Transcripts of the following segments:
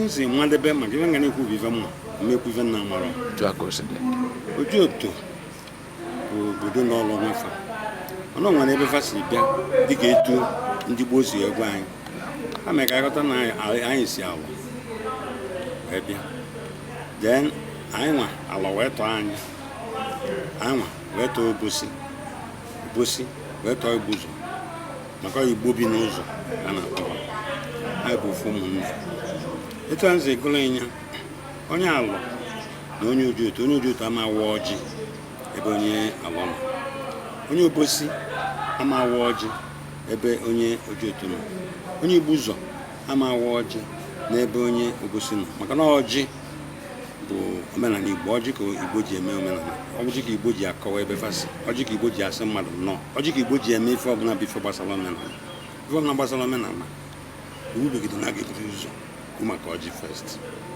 nsi madebe maka ife m ga na-ekwu bụ ife m ma m ma ekwu ife m na-amarọ ojoto bụ obodo nọlụ onwe fa ọnụ nwere ebe fa si bịa dịka etu ndị gboo si agwa anyị ha mere ka aghọta na anyị si awa wee bịa then anyị nwa alọ wee tọọ anyị anyị nwa wee tọọ obosi obosi wee tọọ igbuzo maka igbo bi n'ụzọ ka a na-akpọ fa anyị bụ ofu ụmụnne etu a nsi gụọrọ ị nya onye alọ na onye ojoto onye ojoto ama awa ọjị ebe onye alọ nọ onye obosi ama awa ọjị ebe onye ojoto nọ onye igbuzo ama awa ọjị n'ebe onye obosi nọ maka na ọjị bụ omenala igbo ọjị ka igbo ji eme omenala ọjị ka igbo ji akọwa ebe fa si ọjị ka igbo ji asị mmadụ nnọọ ọjị ka igbo ji eme ife ọbụla bụ ife gbasara omenala ife ọbụla gbasara omenala iwu begide na a ga-eburu ụzọ kwu maka ọjị first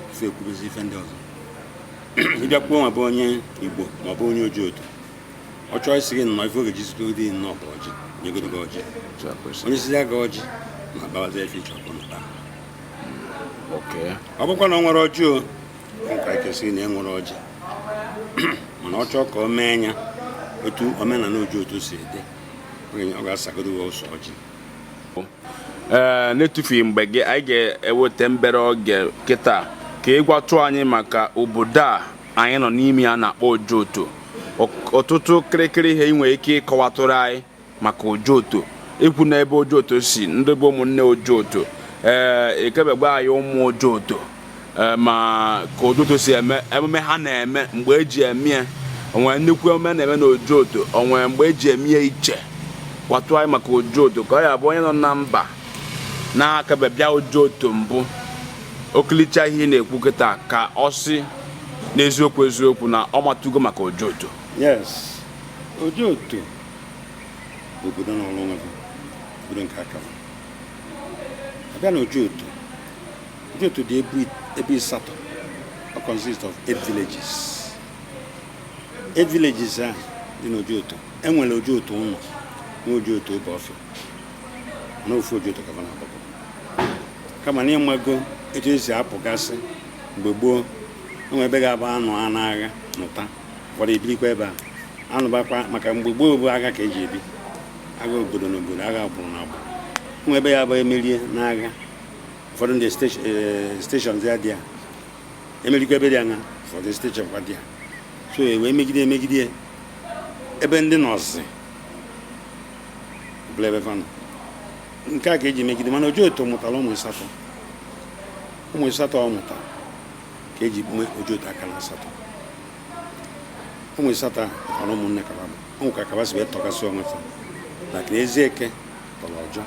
before ekwubezi ife ndị ọzọ ịbịakwuo na be onye igbo ma ọ bụ onye ojoto ọ chọọ ịsị gị nnọọ ife ọ ga-eji sịgodi nnọọ bụ ọjị nyegodo gị ọjị o nyesịzie gị ọjị na abawazi ife ịchọ ikwu na taa ọ bụkwa na o nwerọ ọjị o nwere ike sị na enwerọ ọjị mana ọ chọọ ka o mee nya otu omenala ojoto si dị ọ ga-asagodo ụsa ọjị ee n'etufughị mgbe gị anyị ga-eweta mbere oge kịta ka ịgwatụ anyị maka obodo a anyị nọ n'ime ya na-akpọ ojoto ọtụtụ kịrịkịrị ihe ị nwere ike ịkọwatụrụ anyị maka ojoto ikwu na ebe ojoto si ndị bụ ụmụnne ojoto ee eh, ekebegbe anyị ụmụ ojoto eh, ma ka ojoto si eme emume ha na-eme mgbe eji eme ya onwere nnukwu emume na-eme na ojoto onwere mgbe eji eme ya ichie gwatụ anyị maka ojoto ka ọ ya bụ onye nọ na mba na-akebe bịa ojoto mbụ o kiricha ihe ị na-ekwu kịta ka ọ sị n'eziokwu eziokwu na ọ matugo maka ojoto yes ojoto bụ obodo nọọrụ onwe ya obodo nke aka ya abịa na ojoto ojoto dị ebo ịsatọ ọ consist of eight villages eight villages a dị na ojoto enwere ojoto ụnọ na ojoto obiọfịa na ofu Ojoto ka ha na-agbakọ kama na ịmago etu esi apụgasị mgbe gboo enwe ebe ga-abụ anụa n'agha nụta ụfọdụ ebirikwa ebe a anụbakwa maka mgbe gboo bụ agha ka eji ebi agha obodo na obodo agha agbụrụ na agbụrụ enwe ebe ya-abụ emerie n'agha ụfọdụ ndị steshọn ya dị ya emerikwa ebe dị anya ụfọdụ steshọn kwa dị ya so e wee megide emegide ebe ndị nọzi bụlụ ebe va nọ nke a ka eji megide mana Ojoto mụtara ụmụ ịsatọ ụmụ ịsatọ ọ mụtara ka eji mee Ojoto Akanasatọ ụmụ ịsatọ a na ụmụnne ka va bụ ka ka va si wee tọkasị onwe fa like Ezieke tọrọ Ọjọ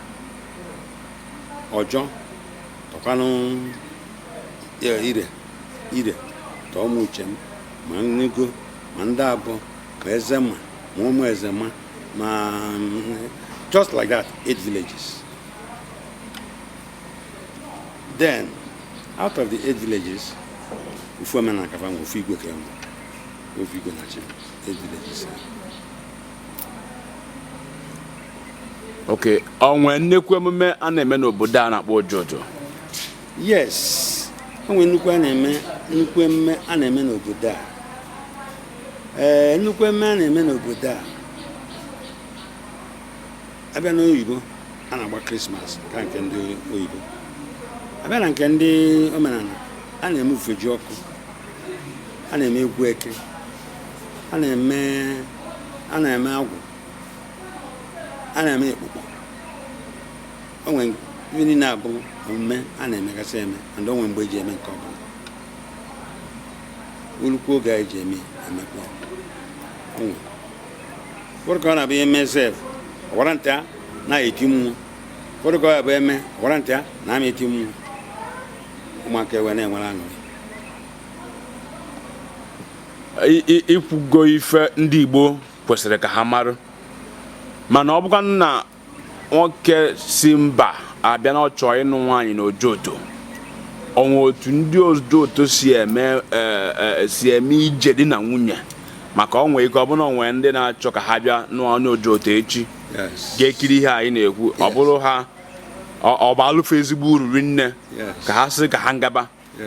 Ọjọ tọkwanụ Ire Ire tọọ Ụmụchem ma Enugo ma Ndịabọ ma Ezema ma Ụmụezema ma just like that eight villages then out of the eight villages ofu omenala ka fa nwe ofu igwe ka enwe ofu igwe na-achị eight villages okay onwe nnekwu emume a na-eme n'obodo a na-akpọ Ojoto yes onwe nnukwu a na-eme nnukwu emume a na-eme n'obodo a ee nnukwu emume a na-eme n'obodo a abịa n'oyibo a na-agba krismas ka nke ndị oyibo abịa na nke ndị omenala a na-eme Ufejiọkụ a na-eme egwu eke a na-eme a na-eme agwụ a na-eme ekpukpọ o nwere ihe niile a bụ omume a na-emegasị eme and o nwere mgbe eji eme nke ọbụla o lukwuo oge anyị ji eme emekpe ụfọdụ ka ọ na-abụ e mee sef ọwara nta a na-eti mmụọ ụfọdụ ka ọ ya-abụ e mee ọwara nta a na-ama eti mmụọ ụmụaka ewee na-enwere aṅụrị i kwugo ife ndị Igbo kwesịrị ka ha mara mana ọ bụkwa na nwoke si mba abịa na ọ chọọ ịnụ nwaanyị na Ojoto o nwe otu ndị Ojoto si eme e, e, si eme ije di na nwunye maka o nwe ike ọ bụrụ na o nwe ndị na-achọ ka ha bịa nụọ onye Ojoto echi ga-ekiri ihe anyị na-ekwu ọ bụrụ ha ọ baalụ fa ezigbo uru rinne ka ha sị ka ha ngaba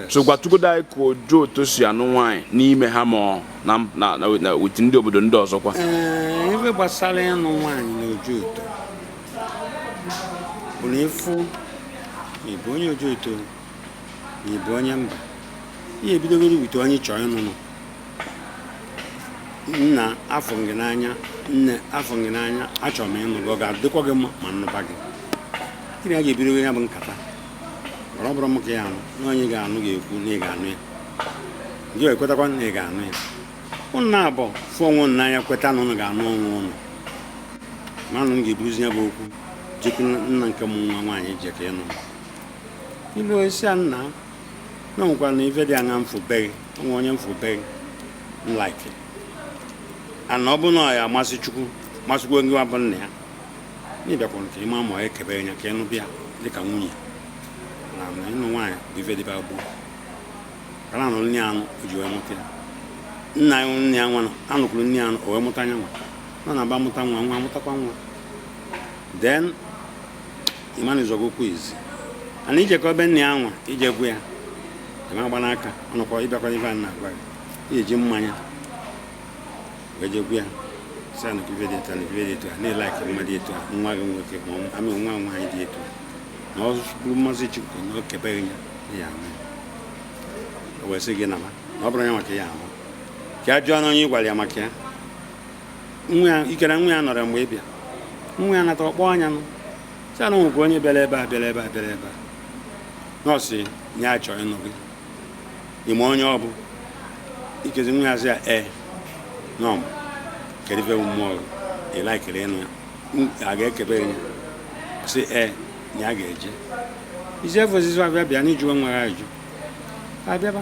so gwatụgodo anyị ka Ojoto si anụ nwaanyị n'ime ha ma na with ndị obodo ndị ọzọkwa eh, ebe gbasara ịnụ nwaanyị na Ojoto bụ na ịfụ ị bụ onye Ojoto na ị bụ onye mba ị ya-ebidogodo with onye ị chọọ ịnụnụ nna afụ m gị n'anya nne afụ m gị n'anya achọrọ m ịnụ gị ọ ga-adịkwa gị mma ma m nụba gị gị na ya ga-ebido ya bụ nkata ọ bụrụ m ka ya anụ na onye ga-anụ ga-ekwu na ị ga-anụ ya gị ekwetakwa na ị ga-anụ ya ụnụ naabọ fụ onwe ụnụ n'anya kweta na ụnụ ga-anụ onwe ụnụ manụ m ga-ebuzi ya bụ okwu jekwu nna nke mụ nwa nwaanyị je ka ịnụ ilu ị sị ya nna na nwekwa na ife dị anya m fụ be gị o nwe onye m fụ be gị m like and ọ bụ na ọ ya-amasị Chukwu masịkwa gị nwa bụ nna ya na ị bịakwara ka ị ma ma ọ ekebere ya ka ị nụbịa dịka nwunye na na ịnụ nwaanyị bụ ife dịba gboo ka na-anụ nne ya anụ o ji wee mụta ya nna ya nụrụ nne ya nwa anụkwuru nne ya anụ o wee mụta nya nwa nọ na aba mụta nwa nwa mụtakwa nwa then ị ma na ị zọgo ụkwụ izi and i jekọ ebe nne ya nwa i jekwu ya ị ma-agbanụ aka ọnụkọ ịbịakwa ife a na-agwa gị i ji mmanya wee jekwu ya sị ya na ife dị etu a na ife dị etu a na ị like mmadụ etu a nwa gị nwoke ma ọ- amị nwa nwaanyị dị etu a na ọ bụrụ mmasị Chukwu na o kebe gị ya na ya ama ya. o wee sị gị na ma na ọ bụrụ ya maka ya ama ka a jụọ na onye ị gwara ya maka ya nwa ya ikere nwa ya nọrọ mgbe ị bịa nwa ya nata ọ kpọọ nya nụ sị ya na o nwekwa onye bịara ebe a bịara ebe a bịara ebe a na ọ sị ya chọ ịnụ gị ị ma onye ọ bụ ikezi nwa ya sị ya ee na ọ ma kedu ife bụ mmụọ gị ị laikiri ịnụ ya M- a ga-ekebe ya sị ee na ya ga-eje isi efe osisi abịa bịa na ịjụwe nwa ya ajụ abịaba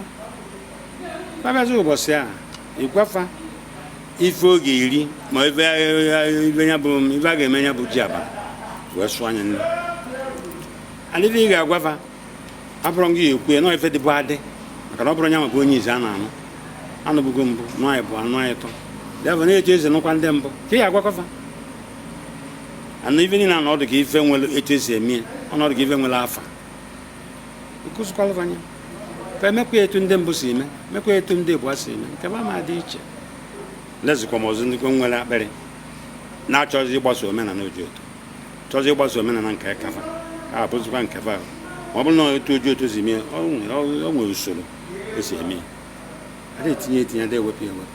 abịazi ụbọchị a ị gwa fa ife ọ ga-eri ma ife ife ya bụ ife a ga-eme ya bụ ji aba wee sụọ anya nne adịghị ị ga-agwa fa abụrọ gị ya-ekwu ya nọọ ife dịbụ adị maka na ọ bụrọ nya ma bụ onye izi a na-anụ anụbụgo mbụ nọ anyị bụ anụ anyị tọ deva na etu esi nụkwa ndị mbụ ka ị ya-agwakọ fa anụ ife niile na ọ dị ka ife nwere etu esi eme ya ọ na-adị ka ife nwere afa nkụzikwalụ fa nya fa emekwa ya etu ndị mbụ si eme mekwa ya etu ndị abụọ si eme nke m ama dị iche lezikwa m ọzọ ndị nwere akpịrị na-achọzi ịgbaso omenala Ojoto chọzi ịgbaso omenala nke aka fa ya abụzikwa nke fa ma ọ bụrụ na otu Ojoto si mee ọ nwere- ọ- ọ nwere usoro esi eme ya ada etinye etinye ada ewepụ ya ewepụ